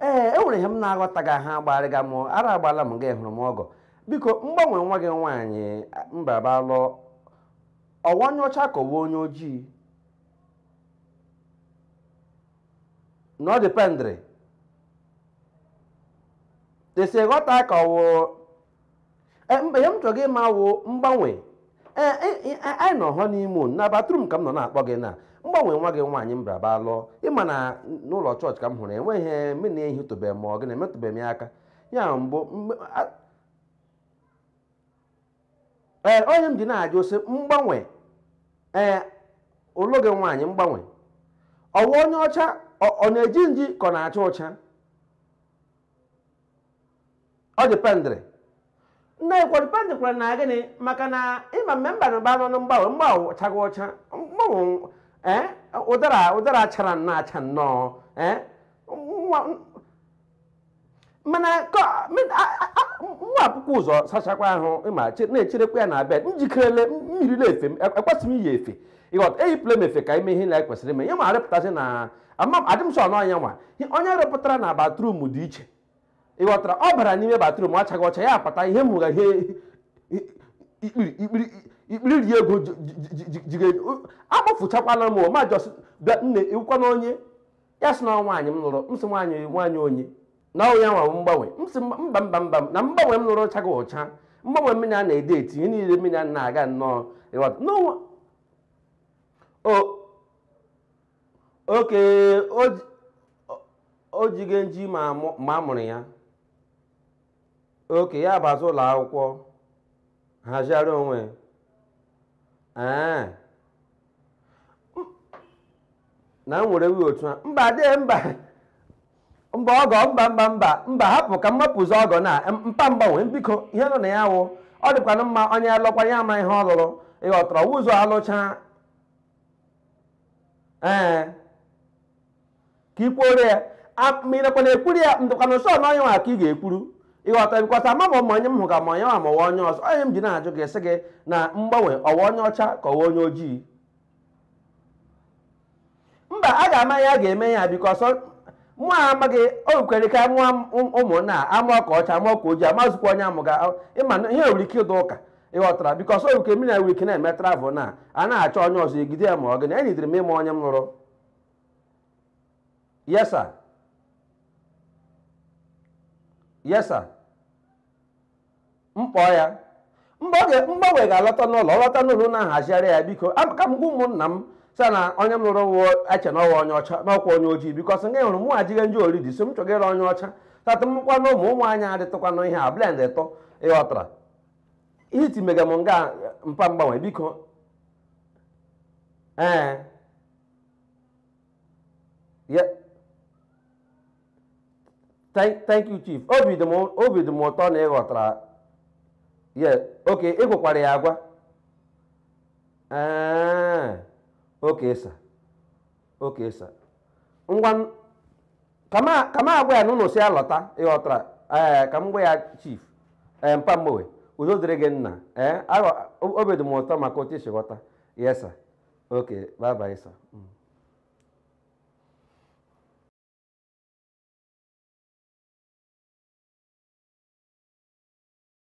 ee e nwere ihe m na-aghọtaghị aha agbarịga m ara agbala m gị hụrụ m ọgọ biko mgbanwe nwa gị nwaanyị mbabalụ ọ wụ onye ọcha ka ọ wụ onye ojii na ọ dependịrị e si ghọta ka ọ wụ Eh, mba ihe m chọga ịma wụ mgbanwe Eh, eh, eh, anyị nọ hụ n'ime ụlọ na bathroom ka m nọ na-akpọ gị na mgbanwe nwa gị nwaanyị m braba lụọ ị ma na n'ụlọ chọọchị ka m hụrụ enweghị ihe m na-ehitụbeghị ma ọ gị na-emetụbeghị m ya aka ya mbụ mgbe- a- ee onye m ji na-ajụ sị mgbanwe ee ụlụ gị nwaanyị mgbanwe ọ wụ onye ọcha ọ ọ na-eji nji ka ọ na-acha ụcha ọ dependịrị nne kwa dependịkwara na gịnị maka na ịma mme mba na ụba nọ na mgbanwe mgbanwe ọ chaga ọcha mgbanwe ee ụdara ụdara chara nnọọ acha nnọọ ee nwa mana ka- min- a- a- a- nwa akwụkwọ ụzọ sachakwa ahụ ịma che- na-echerekwa ya na bed njikerele mmiri na-efe m e- ekwesị m iyi efe ị ghọta eyipụla m efe ka ime ihe na kwesịrị ime ihe ma arịpụtasị na ama m- adị m sọ na onye nwa onye rịpụtara na bathroom dị iche ị ghọtara ọ bara n'ime bathroom achaga ọcha ya apata ihe mụga ihe ikpiri ikpiri ikpiri ri ego jige akpọfụchakwala m ma just bịa nne ị wụkwanụ onye ya sị na nwaanyị m lụrụ m sị nwaanyị nwaanyị onye na ọ ya nwa mgbanwe m sị mba mba mba na mgbanwe m lụrụ ọ chaga ọcha mgbanwe mmiri a na-ede eti ihe niile mmiri a na-aga nnọọ ị ghọta n'ụwa o okay o jige nji ma a mụrụ ya okay ya bazi ụlọ akwụkwọ haziara onwe ee na m were wi otu a mba dee mba mba ọgọ mba mba mba mba hapụ ka m mapụzi ọgọ na mpa mgbanwe biko ihe nọ na ya wụ ọ dịkwanụ mma onye lụkwa ya ama ihe ọ lụrụ ị ghọtara ụzọ alụcha ee ka i kwuoro ya A- ma ị nakwa na-ekwuru ya ndụkwana sọ na onye nwa ka ị ga-ekwuru ị ghọta bikọta ama ma onye m hụ ka ma onye nwa ma ọ wụ onye ọzọ onye m ji na-ajụ gị sị gị na mgbanwe ọ wụ onye ọcha ka ọ wụ onye ojii mba a ga-ama ya a ga-eme ya because mụ a amaghị o nwekwere ka nwa ụmụnna amụọ ka ọcha amụọ ka ojii amazụkwa onye amụga ị ma na ihe nwere ike ịdụ ụka ị ghọtara because oyi nke mmiri wik na-eme travel na a na-achọ onye ọzọ egide ya ma ọ gịnị enyidere m ị ma onye m lụrụ yes sir yes sir mkpọ ya mgbanwe ga-alọta n'ụlọ ọ lọta n'ụlọ na-ahazigharị ya biko ka m gwa ụmụnna m sir na onye m lụrụ wụ eche na ọ wụ onye ọcha n'ọkwa onye ojii because nga hụrụ mụ ajighị nje ori dị so m chọgara onye ọcha tata mkwa na ụmụ ụmụ anyị adịtụkwanụ ihe a blend ịtọ ị ghọtara ihe iti mega m nga mpa mgbanwe biko ee ya thank thank you chief obi dị m obi dị m ụtọ na ị ghọtara ya okay ị gwakwara ya agwa ee okay sir okay sir ngwa ka m agwa ya na unu sị ya lọta ị ghọtara ee eh, ka m gwa ya chief ee eh, mpa mgbanwe udo dịrị gị nna ee eh, obi dị m ụtọ maka otu i si ghọta yes sir okay bye bye sir mm.